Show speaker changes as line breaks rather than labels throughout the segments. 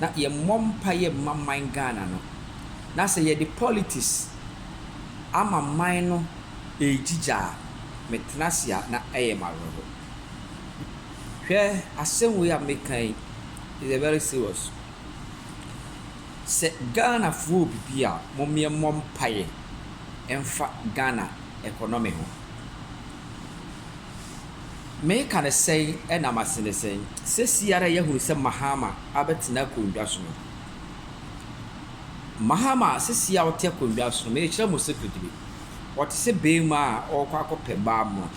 na yɛmmɔ mpaeɛ mma man Ghana no na sɛ yɛde politics ama man no ɛregyigya a me tena ase a na ɛyɛ me awerɛho. Hwɛ asɛm wei a meka yi is a very serious. Sɛ Ghana foɔ wɔ biribi a mom yɛ mmɔ mpaeɛ mfa Ghana economy ho. Meka no sɛn na mase no sɛn? Sɛsi ara yɛahunu sɛ Mahama abɛtena akondwa so no. Mahama sɛsi a ɔte akondwa so no, merekyerɛ mo secretly, ɔte sɛ barima a ɔrekɔ akɔpɛ baa mmoa.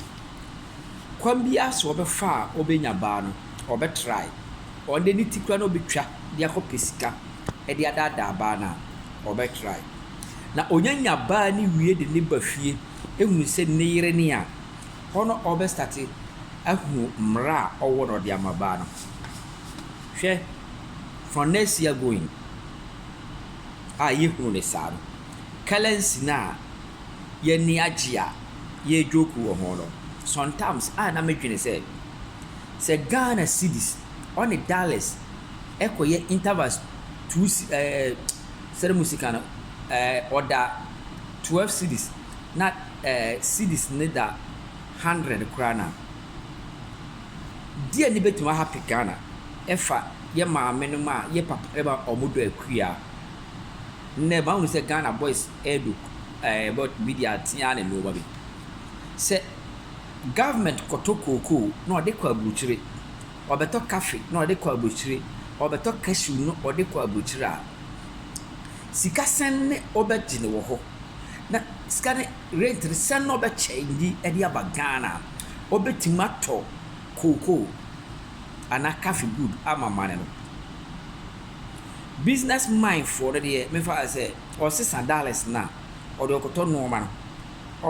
Kwan biara sɛ ɔbɛfa a ɔbɛnya baa no, ɔbɛtry. Ɔno deɛ ne ti koraa na ɔbɛtwa de akɔpɛ sika de adaadaa baa no a, ɔbɛtry. Na ɔnya nya baa no wie de no ba fie, hunu sɛ ne yere ne a, Hɔ no ɔbɛ starte ahu mmara a ɔwɔ na ɔde ama baa no. Hwɛ, from next year going a yɛhunu no saa no, currency no a y'ani agye a yɛ joke wɔ ho no, sometimes a na me dwene sɛ, sɛ Ghana cedis ɔne dollars ɛkɔ yɛ intervals two ɛɛ sɛde mo sika no ɛɛ ɔda twelve cedis. na eh cedis ne da hundred koraa na deɛ ne bɛtumi ahape Ghana ɛfa yɛ maame nom a yɛ papa nom a ɔmo dɔ akua nnɛ mahunu sɛ Ghana boys ɛɛdɔ eh but bi deɛ atea ara na ɛno ba bi sɛ government kɔtɔ kookoo na ɔde kɔ aburukyire ɔbɛtɔ kafe na ɔde kɔ aburukyire ɔbɛtɔ cashew na ɔde kɔ aburukyire a. Sika sɛn ne ɔbɛgye no wɔ hɔ? Na sika ne rate no sɛn na ɔbɛkyɛ nyi de aba Ghana? Ɔbɛtumi atɔ cocoa anaa coffee good ama amane no? Business mind foɔ no deɛ memfa no sɛ ɔsesa dollars no a ɔde ɔkɔtɔ nnoɔma no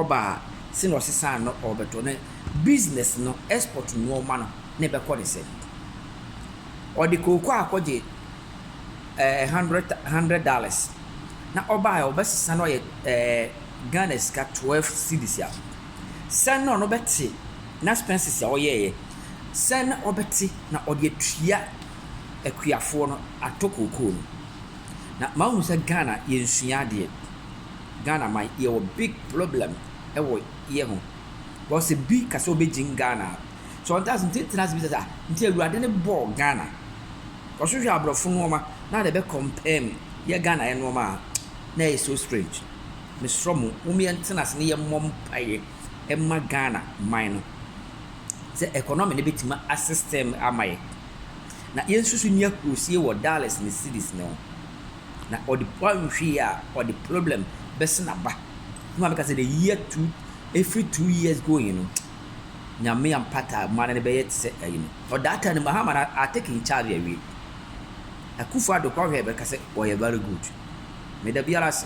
ɔba a sɛn na ɔsesa no ɔbɛtɔ ne business no export nnoɔma no na ɛbɛkɔ ne sɛn? Ɔde cocoa akɔgye. ɛɛ hundred hundred dollars na ɔbaeɛ a ɔbɛsesa no ayɛ ɛɛ Ghana sika twelve cedis a, sɛn na ɔno bɛte n'expenses a ɔyɛeɛ? Sɛn na ɔbɛte na ɔde atua akuafoɔ no atɔ kookoo no? Na mahu sɛ Ghana yɛnsua adeɛ. Ghana man yɛwɔ big problem wɔ yɛ ho. Because sɛ bi ka sɛ ɔbɛgyin Ghana a. Sɛ ɔnte ase nti tena ase bisa sɛ ah nti awurade no bɔɔ Ghana ɔhwehwɛ abrɔfo nnoɔma na ɔde bɛ compare mu yɛ Ghana yɛ nnoɔma a na ɛyɛ so strange mesrɔ mo mom yɛn tena ase na yɛn mmɔ mpaeɛ ɛma Ghana man no sɛ economy no bɛtumi asestem ama yɛ na yɛn susu ni akurosie wɔ dollars ne cities no ho na ɔde pɔ nhwee a ɔde problem bɛsena ba mo a meka sɛ the year two ɛfiri two years going no Nyame ampata a mane no bɛyɛ te sɛ ayi no. For that time no Mahama no a take in charge awie. Akufo-Addo kɔ hwɛ bɛka sɛ ɔyɛ very good. Meda biara ase.